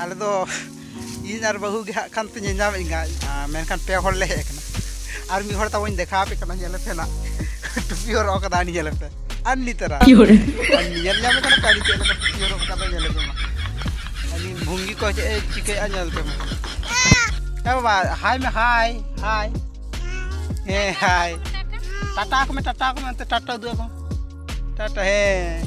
ᱟᱞᱮ ᱫᱚ ᱤᱧ ᱟᱨ ᱵᱟᱹᱦᱩ ᱜᱮ ᱦᱟᱸᱜ ᱠᱷᱟᱱ ᱯᱮ ᱧᱮᱧᱟᱢᱮᱫ ᱤᱧᱟ ᱢᱮᱱᱠᱷᱟᱱ ᱯᱮ ᱦᱚᱲ ᱞᱮ ᱦᱮᱡ ᱟᱠᱟᱱᱟ ᱟᱨ ᱢᱤᱫ ᱦᱚᱲ ᱛᱟᱵᱚᱧ ᱫᱮᱠᱷᱟᱣ ᱟᱯᱮ ᱠᱟᱱᱟ ᱧᱮᱞ ᱯᱮ ᱱᱟᱜ ᱴᱩᱯᱤ ᱦᱚᱨᱚᱜ ᱠᱟᱫᱟ ᱟᱹᱱᱤ ᱧᱮᱞ ᱯᱮ ᱟᱹᱱᱤ ᱛᱟᱨᱟ ᱧᱮᱞ ᱧᱟᱢᱮ ᱠᱟᱱᱟ ᱯᱮ ᱟᱹᱱᱤ ᱪᱮᱫ ᱞᱮᱠᱟ ᱴᱩᱯᱤ ᱦᱚᱨᱚᱜ ᱠᱟᱫᱟ ᱧᱮᱞ ᱯᱮ ᱢᱟ ᱟᱹᱱᱤ ᱵᱷᱩᱝᱜᱤ ᱠᱚ ᱪᱮᱫ ᱮ ᱪᱤᱠᱟᱹᱭᱟ ᱧᱮᱞ ᱯᱮ ᱢᱟ ᱦᱮᱸ ᱵᱟᱵᱟ ᱦᱟᱭ ᱢᱮ ᱦᱟᱭ ᱦᱟᱭ ᱦᱮᱸ ᱦᱟᱭ ᱴᱟᱴᱟ ᱠᱚ ᱢᱮ ᱴᱟᱴᱟ ᱠᱚ ᱢᱮ ᱴᱟᱴᱟ ᱩᱫᱩᱜ ᱟᱠᱚ ᱴᱟᱴᱟ ᱦᱮᱸ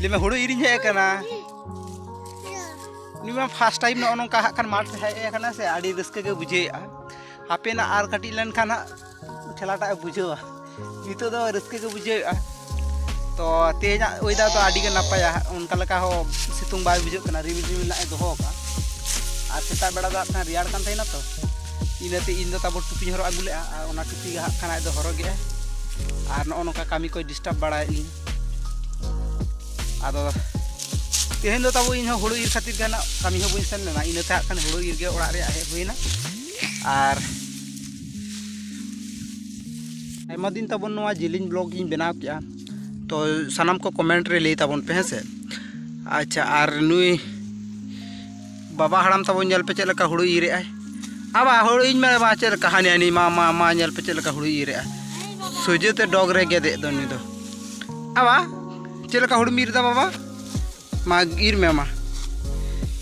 ᱞᱟᱹᱭ ᱢᱮ ᱦᱩᱲᱩ ᱤᱨᱤᱧ ᱦᱮᱡ ᱟᱠᱟᱱᱟ ᱩᱱᱤ ᱢᱟ ᱯᱷᱟᱥᱴ ᱴᱟᱭᱤᱢ ᱱᱚᱜᱼᱚ ᱱᱚᱝᱠᱟ ᱦᱟᱸᱜ ᱠᱷᱟᱱ ᱢᱟᱴᱷ ᱦᱮᱡ ᱟᱠᱟᱱᱟ ᱥᱮ ᱟᱹᱰᱤ ᱨᱟᱹᱥᱠᱟᱹ ᱜᱮ ᱵᱩᱡᱷᱟᱹᱣᱮᱜᱼᱟ ᱦᱟᱯᱮᱱᱟ ᱟᱨ ᱠᱟᱹᱴᱤᱡ ᱞᱮᱱᱠᱷᱟᱱ ᱦᱟᱸᱜ ᱴᱷᱮᱞᱟᱴᱟᱜ ᱮ ᱵᱩᱡᱷᱟᱹᱣᱟ ᱱᱤᱛᱚᱜ ᱫᱚ ᱨᱟᱹᱥᱠᱟᱹ ᱜᱮ ᱵᱩᱡᱷᱟᱹᱣᱮᱜᱼᱟ ᱛᱚ ᱛᱮᱦᱮᱧᱟᱜ ᱚᱭᱮᱫᱟᱨ ᱫᱚ ᱟᱹᱰᱤ ᱜᱮ ᱱᱟᱯᱟᱭᱟ ᱚᱱᱠᱟ ᱞᱮᱠᱟ ᱦᱚᱸ ᱥᱤᱛᱩᱝ ᱵᱟᱭ ᱵᱩᱡᱷᱟᱹᱜ ᱠᱟᱱᱟ ᱨᱤᱢᱤᱞ ᱨᱤᱢᱤᱞ ᱱᱟᱜ ᱮ ᱫᱚᱦᱚ ᱟᱠᱟᱫ ᱟᱨ ᱥᱮᱛᱟᱜ ᱵᱮᱲᱟ ᱫᱚ ᱦᱟᱸᱜ ᱠᱷᱟᱱ ᱨᱮᱭᱟᱲ ᱠᱟᱱ ᱛᱟᱦᱮᱱᱟ ᱛᱚ ᱤᱱᱟᱹᱛᱮ ᱤᱧ ᱫᱚ ᱛᱟᱵᱚ ᱴᱩᱯᱤᱧ ᱦᱚᱨᱚᱜ ᱟᱹᱜᱩ ᱞᱮᱜᱼᱟ ᱟᱨ ᱚᱱᱟ ᱴᱩᱯᱤ ᱜᱮ ᱦᱟᱸᱜ ᱠᱷᱟᱱ ᱟᱡ ᱫᱚ ᱦᱚᱨᱚᱜᱮᱜᱼᱟᱭ ᱟᱨ ᱱᱚᱜᱼᱚ ᱱᱚᱝᱠᱟ ᱠᱟᱹᱢᱤ ᱠᱚᱭ ᱰᱤᱥᱴᱟᱵᱽ ᱵᱟᱲᱟᱭᱮᱫ ᱞᱤᱧ ᱟᱫᱚ ᱛᱮᱦᱮᱧ ᱫᱚ ᱛᱟᱵᱚ ᱤᱧ ᱦᱚᱸ ᱦᱩᱲᱩ ᱤᱨ ᱠᱷᱟᱹᱛᱤᱨ ᱜᱮ ᱠᱟᱹᱢᱤ ᱦᱚᱸ ᱵᱟᱹᱧ ᱥᱮᱱ ᱞᱮᱱᱟ ᱤᱱᱟᱹᱛᱮ ᱦᱟᱸᱜ ᱠᱷᱟᱱ ᱦᱩᱲᱩ ᱤᱨ ᱜᱮ ᱚᱲᱟᱜ ᱨᱮᱭᱟᱜ ᱦᱮᱡ ᱦᱩᱭᱱᱟ ᱟᱨ ᱟᱭᱢᱟ ᱫᱤᱱ ᱛᱟᱵᱚᱱ ᱱᱚᱣᱟ ᱡᱤᱞᱤᱧ ᱵᱞᱚᱜ ᱤᱧ ᱵᱮᱱᱟᱣ ᱠᱮᱜᱼᱟ ᱛᱚ ᱥᱟᱱᱟᱢ ᱠᱚ ᱠᱚᱢᱮᱱᱴ ᱨᱮ ᱞᱟᱹᱭ ᱛᱟᱵᱚᱱ ᱯᱮ ᱦᱮᱸ ᱥᱮ ᱟᱪᱪᱷᱟ ᱟᱨ ᱱᱩᱭ ᱵᱟᱵᱟ ᱦᱟᱲᱟᱢ ᱛᱟᱵᱚᱱ ᱧᱮᱞ ᱯᱮ ᱪᱮᱫ ᱞᱮᱠᱟ ᱦᱩᱲᱩ ᱤᱨ ᱮᱜᱼᱟᱭ ᱟᱵᱟ ᱦᱩᱲᱩ ᱤᱧ ᱢᱮ ᱵᱟ ᱪᱮᱫ ᱞᱮᱠᱟ ᱦᱟᱹᱱᱤ ᱦᱟᱹᱱᱤ ᱢᱟ ᱢᱟ ᱢᱟ ᱧᱮᱞ ᱯᱮ ᱪᱮᱫ ᱞᱮᱠᱟ ᱦᱩᱲᱩ ᱤᱨ ᱮᱜᱼᱟᱭ ᱥᱚᱡᱷᱮ ᱛᱮ ᱰᱚᱜᱽ ᱨᱮ ᱜᱮᱫᱮᱜ ᱫᱚ ᱩᱱᱤ ᱫᱚ ᱟᱵᱟ ᱪᱮᱫ ᱞᱮᱠᱟ ᱦᱩᱲᱩᱢ ᱤᱨ ᱮᱫᱟ ᱵᱟᱵᱟ ᱢᱟ ᱤᱨ ᱢᱮ ᱢᱟ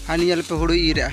ᱦᱟᱹᱱᱤ ᱧᱮᱞ ᱯᱮ ᱦᱩᱲᱩ ᱤᱨ ᱮᱜᱼᱟ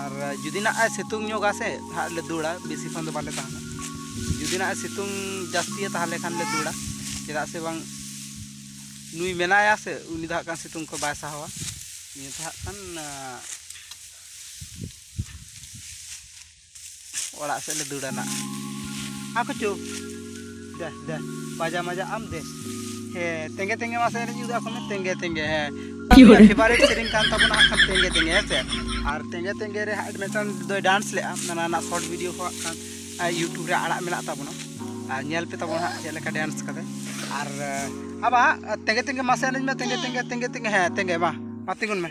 ᱟᱨ ᱡᱩᱫᱤ ᱱᱟᱜ ᱥᱤᱛᱩᱝ ᱧᱚᱜᱟ ᱥᱮ ᱦᱟᱸᱜ ᱞᱮ ᱫᱟᱹᱲᱟ ᱵᱮᱥᱤ ᱠᱷᱚᱱ ᱫᱚ ᱵᱟᱞᱮ ᱛᱟᱦᱮᱱᱟ ᱡᱩᱫᱤ ᱱᱟᱜ ᱥᱤᱛᱩᱝ ᱡᱟᱹᱥᱛᱤᱭᱟ ᱛᱟᱦᱚᱞᱮ ᱠᱷᱟᱱ ᱞᱮ ᱫᱟᱹᱲᱟ ᱪᱮᱫᱟᱜ ᱥᱮ ᱵᱟᱝ ᱱᱩᱭ ᱢᱮᱱᱟᱭᱟ ᱥᱮ ᱩᱱᱤ ᱫᱚ ᱦᱟᱸᱜ ᱠᱷᱟᱱ ᱥᱤᱛᱩᱝ ᱠᱚ ᱵᱟᱭ ᱥᱟᱦᱟᱣᱟ ᱱᱤᱭᱟᱹ ᱫᱚ ᱦᱟᱸᱜ ᱠᱷᱟᱱ ᱚᱲᱟᱜ ᱥᱮᱫ ᱞᱮ ᱫᱟᱹᱲᱟ ᱱᱟᱜ ᱟᱠᱚ ᱪᱚ ᱫᱮ ᱫᱮ ᱵᱟᱡᱟ ᱢᱟᱡᱟ ᱟᱢ ᱫᱮ ᱦᱮ ᱛᱮᱸᱜᱮ ᱛᱮᱸᱜᱮ ᱢᱟ ᱥᱮᱨᱮᱧ ᱩᱫᱩᱜ ᱟᱠᱚ ᱢᱮ ᱛᱮᱸᱜᱮ ᱛᱮᱸᱜᱮ ᱦᱮ ᱯᱷᱮᱵᱟᱨᱮᱴ ᱥᱮᱨᱮᱧ ᱠᱟᱱ ᱛᱟᱵᱚᱱᱟ ᱦᱟᱸᱜ ᱠᱷᱟᱱ ᱛᱮᱸᱜᱮ ᱛᱮᱸᱜᱮ ᱦᱮᱸ ᱥᱮ ᱟᱨ ᱛᱮᱸᱜᱮ ᱛᱮᱸᱜᱮ ᱨᱮ ᱦᱟᱸᱜ ᱢᱤᱫᱴᱟᱝ ᱫᱚᱭ ᱰᱟᱱᱥ ᱞᱮᱜᱼᱟ ᱚᱱᱟ ᱨᱮᱱᱟᱜ ᱥᱚᱨᱴ ᱵᱷᱤᱰᱤᱭᱳ ᱠᱚ ᱦᱟᱸᱜ ᱠᱷᱟᱱ ᱤᱭᱩᱴᱩᱵᱽ ᱨᱮ ᱟᱲᱟᱜ ᱢᱮᱱᱟᱜ ᱛᱟᱵᱚᱱᱟ ᱟᱨ ᱧᱮᱞ ᱯᱮ ᱛᱟᱵᱚᱱ ᱦᱟᱸᱜ ᱪᱮᱫ ᱞᱮᱠᱟ ᱰᱮᱱᱥ ᱠᱟᱫᱟᱭ ᱟᱨ ᱟᱵᱟ ᱛᱮᱸᱜᱮ ᱛᱮᱸᱜᱮ ᱢᱟᱥᱮ ᱮᱱᱮᱡ ᱢᱮ ᱛᱮᱸᱜᱮ ᱛᱮᱸᱜᱮ ᱛᱮᱸᱜᱮ ᱛᱮᱸᱜᱮ ᱦᱮᱸ ᱛᱮᱸᱜᱮ ᱢᱟ ᱢᱟ ᱛᱤᱸᱜᱩᱱ ᱢᱮ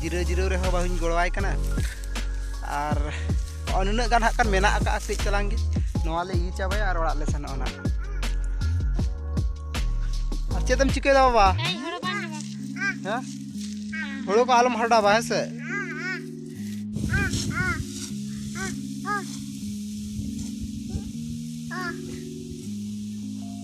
ᱡᱤᱨᱟᱹᱣ ᱡᱤᱨᱟᱹᱣ ᱨᱮᱦᱚᱸ ᱵᱟᱹᱧ ᱜᱚᱲᱚᱣᱟᱭ ᱠᱟᱱᱟ ᱟᱨ ᱱᱩᱱᱟᱹᱜ ᱜᱟᱱ ᱦᱟᱸᱜ ᱠᱷᱟᱱ ᱢᱮᱱᱟᱜ ᱟᱠᱟᱫᱼᱟ ᱠᱟᱹᱡ ᱪᱟᱞᱟᱝ ᱜᱮ ᱱᱚᱣᱟ ᱞᱮ ᱤᱭᱟᱹ ᱪᱟᱵᱟᱭᱟ ᱟᱨ ᱚᱲᱟᱜ ᱞᱮ ᱥᱮᱱᱚᱜᱼᱟ ᱱᱟᱜ ᱟᱨ ᱪᱮᱫ ᱮᱢ ᱪᱤᱠᱟᱹᱭᱮᱫᱟ ᱵᱟᱵᱟ ᱦᱮᱸ ᱦᱳᱲᱳ ᱠᱚ ᱟᱞᱚᱢ ᱦᱟᱰᱟᱵᱟ ᱦᱮᱸ ᱥᱮ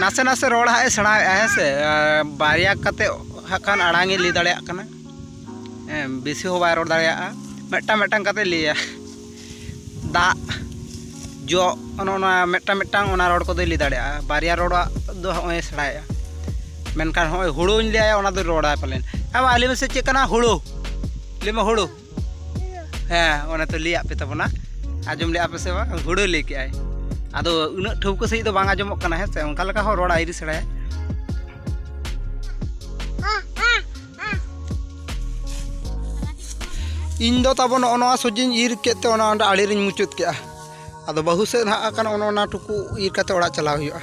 ᱱᱟᱥᱮ ᱱᱟᱥᱮ ᱨᱚᱲ ᱦᱟᱸᱜ ᱮ ᱥᱮᱬᱟᱭᱮᱫᱼᱟ ᱦᱮᱸ ᱥᱮ ᱵᱟᱨᱭᱟ ᱠᱟᱛᱮ ᱦᱟᱸᱜ ᱠᱷᱟᱱ ᱟᱲᱟᱝ ᱮ ᱞᱟᱹᱭ ᱫᱟᱲᱮᱭᱟᱜ ᱠᱟᱱᱟ ᱵᱮᱥᱤ ᱦᱚᱸ ᱵᱟᱭ ᱨᱚᱲ ᱫᱟᱲᱮᱭᱟᱜᱼᱟ ᱢᱤᱫᱴᱟᱝ ᱢᱤᱫᱴᱟᱝ ᱠᱟᱛᱮ ᱞᱟᱹᱭᱟ ᱫᱟᱜ ᱡᱚᱜ ᱚᱱᱮ ᱚᱱᱟ ᱢᱤᱫᱴᱟᱝ ᱢᱤᱫᱴᱟᱝ ᱚᱱᱟ ᱨᱚᱲ ᱠᱚᱫᱚᱭ ᱞᱟᱹᱭ ᱫᱟᱲᱮᱭᱟᱜᱼᱟ ᱵᱟᱨᱭᱟ ᱨᱚᱲᱟᱜ ᱫᱚ ᱦᱚᱸᱜᱼᱚᱭ ᱮ ᱥᱮᱬᱟᱭᱮᱫᱼᱟ ᱢᱮᱱᱠᱷᱟᱱ ᱦᱚᱸᱜᱼᱚᱭ ᱦᱳᱲᱳᱧ ᱞᱟᱹᱭᱟᱭᱟ ᱚᱱᱟ ᱫᱚᱭ ᱨᱚᱲᱟ ᱯᱟᱞᱮᱱ ᱮ ᱵᱟᱵᱟ ᱞᱟᱹᱭ ᱢᱮᱥᱮ ᱪᱮᱫ ᱠᱟᱱᱟ ᱦᱳᱲᱳ ᱞᱟᱹᱭ ᱢᱮ ᱦᱳᱲᱳ ᱦᱮᱸ ᱚᱱᱟ ᱛᱚ ᱞᱟᱹᱭᱟᱫ ᱯᱮ ᱛᱟᱵᱚᱱᱟ ᱟᱸᱡᱚᱢ ᱞᱮᱫᱼᱟ ᱯᱮ ᱥᱮ ᱵᱟᱝ ᱦᱩᱲᱟᱹ ᱞᱟᱹᱭ ᱠᱮᱜᱼᱟᱭ ᱟᱫᱚ ᱩᱱᱟᱹᱜ ᱴᱷᱟᱹᱣᱠᱟᱹ ᱥᱟᱺᱦᱤᱡ ᱫᱚ ᱵᱟᱝ ᱟᱸᱡᱚᱢᱚᱜ ᱠᱟᱱᱟ ᱦᱮᱸ ᱥᱮ ᱚᱱᱠᱟ ᱞᱮᱠᱟ ᱦᱚᱸ ᱨᱚᱲ ᱟᱭᱨᱤ ᱥᱮᱬᱟᱭᱟ ᱤᱧ ᱫᱚ ᱛᱟᱵᱚ ᱱᱚᱜᱼᱚ ᱱᱚᱣᱟ ᱥᱚᱡᱤᱧ ᱤᱨ ᱠᱮᱫ ᱛᱮ ᱚᱱᱟ ᱚᱸᱰᱮ ᱟᱲᱮ ᱨᱤᱧ ᱢᱩᱪᱟᱹᱫ ᱠᱮᱜᱼᱟ ᱟᱫᱚ ᱵᱟᱹᱦᱩ ᱥᱮᱫ ᱦᱟᱸᱜ ᱠᱟᱱᱟ ᱚᱱᱟ ᱴᱩᱠᱩ ᱤᱨ ᱠᱟᱛᱮ ᱚᱲᱟᱜ ᱪᱟᱞᱟᱣ ᱦᱩᱭᱩᱜᱼᱟ